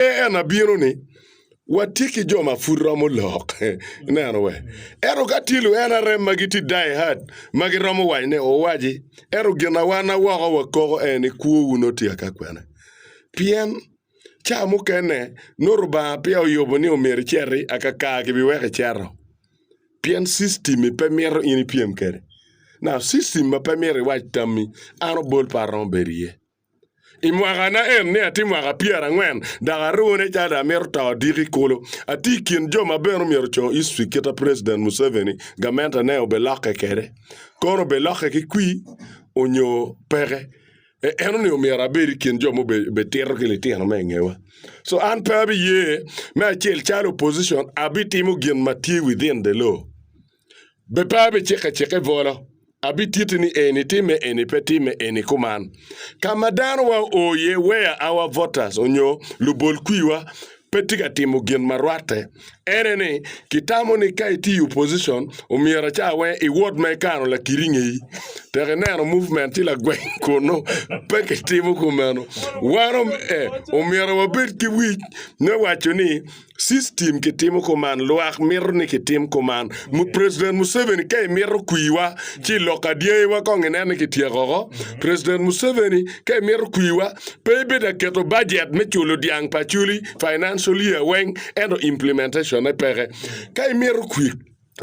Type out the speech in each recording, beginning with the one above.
En abino ni, watye ki jo ma pud romo lok. Ineno we? Ento ka tye luene arem ma gitye die hard ma giromo wac ne, owaci. Ento gin a wan a woko wakoko en ni kwowu nongo tye ka kwene. Pien, ca mukene, nongo Lubanga peya oyubo ni omyero iceti, akakar gibiweko iceto. Pien system-mi pe mito in ipyem kwede. Now, system ma pe mito iwac tammi, an obol pe aromo bedo iye. I mwakana en ni atye mwaka pyerangwen dok aruwo ni calo dong amito to odiko i kulu. Atye i kin jo ma bene omyero oco history kita President Museveni gamente ne obilokke kwede. Kono obilokke ki kwi onyo peke. E eno ni omyero abed i kin jo ma obitito ki litino me ingewa. So an pe abiye me acel calo opposition abitimo gin ma tye within the law. Be pe abiciko acika i bolo, abititi ni eni timme eni pe timme eni kuman. Ka ma danowa oo iye, weya our voters onyo lubol kwiwa pe tye ka timo gin ma rwatte. Ene ni, kitamo ni ka itye i opposition, omyero aca weng i ward ma ikano lakiri ngeyi. Tek ineno movement ci lagweng kunu pe kitimo kumeno. Wan om eh, omyero wabed ki wic me waco ni System kitimo kuman lwak mito ni kitim kuman mu president Museveni ka imito kwiwa ci ilok adyangiwa kong inen ni kityeko oko president Museveni ka imito kwiwa pe ibedo aketo budget me culo dyang pa Acholi financial year weng ento implementation ne peke ka imito kwi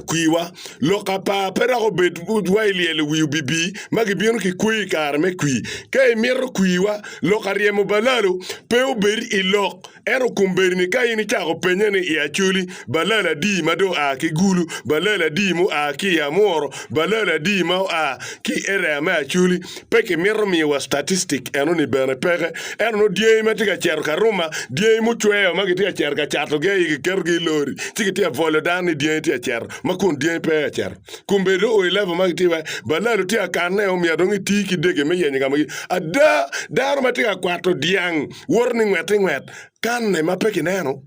Kwiwa, lok apar pe dok obed wa ilyelo wi obibi ma gibino ki kweyo i kare me kwi. Ka imito kwiwa, lok aryemo balalo pe obed i lok. Ento kombeddi-ni ka in icako pennye ni i Acholi, balalo adi ma dong oa ki Gulu, balalo adi ma oa ki i Amworo, balalo adi ma oa ki i erea me Acholi, Pe kimito miyowa statistik eno-ni bene peke. Ento nongo dyangi ma tye ka cito ka ruma, dyangi mucweyo ma kitye ka cito ka catogi aye kiketogi i lori, ci kitye ka bwolo dano ni dyangi tye ka cito ma kun dyangi pe aye ka cito. Kombeddi o i level ma kitye iwaci, balalo tye ka kanne, omyero dong iti ki dege me yenyo ka ma gi. Ada, dano ma tye ka kwato dyang woto ni ngwet ki ngwet, kanne ma pe kineno.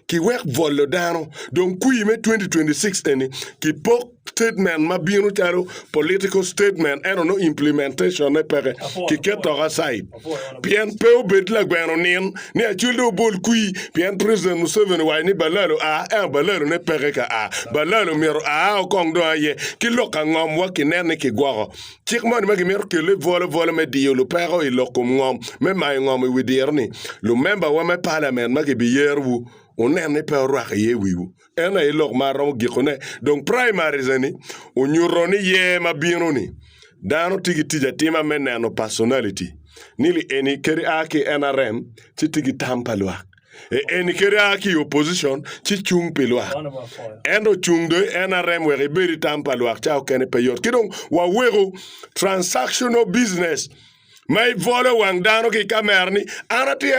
ki wek bwolo dano dong kwir me 2026 eni ki pok statement ma bino calo political statement ento no implementation ne peke ki ket tok aside pien pe obed lagweno nin ni acwil do obol kwir pien president Museveni waco ni balalo a ento balalo ne peke ka a balalo myero a okong dong aye ki lok angom wa ki nen ni ki gwoko Cik moni ma gimito kelle bwolobwola me diyo lupeko i lok kom ngom me mayo ngom i wi diro-ni, lumembawa me palamen ma kibiyerowu wunen ni pe orwako iye i wiwu. Ento aye lok ma aromo gikone, dong primaries-ni onyuto ni year ma bino-ni, dano tye ki tic atima me neno personality, ni li eni kadi a ki NRM ci tye ki tam pa lwak. Eni kadi a ki i opposition ci cung pi lwak. En ocung do en arem wek ibedi tam pa lwak ca okene pe yot. Ki dong waweko transactional business ma ibolo wang dano ki kamera ni an atye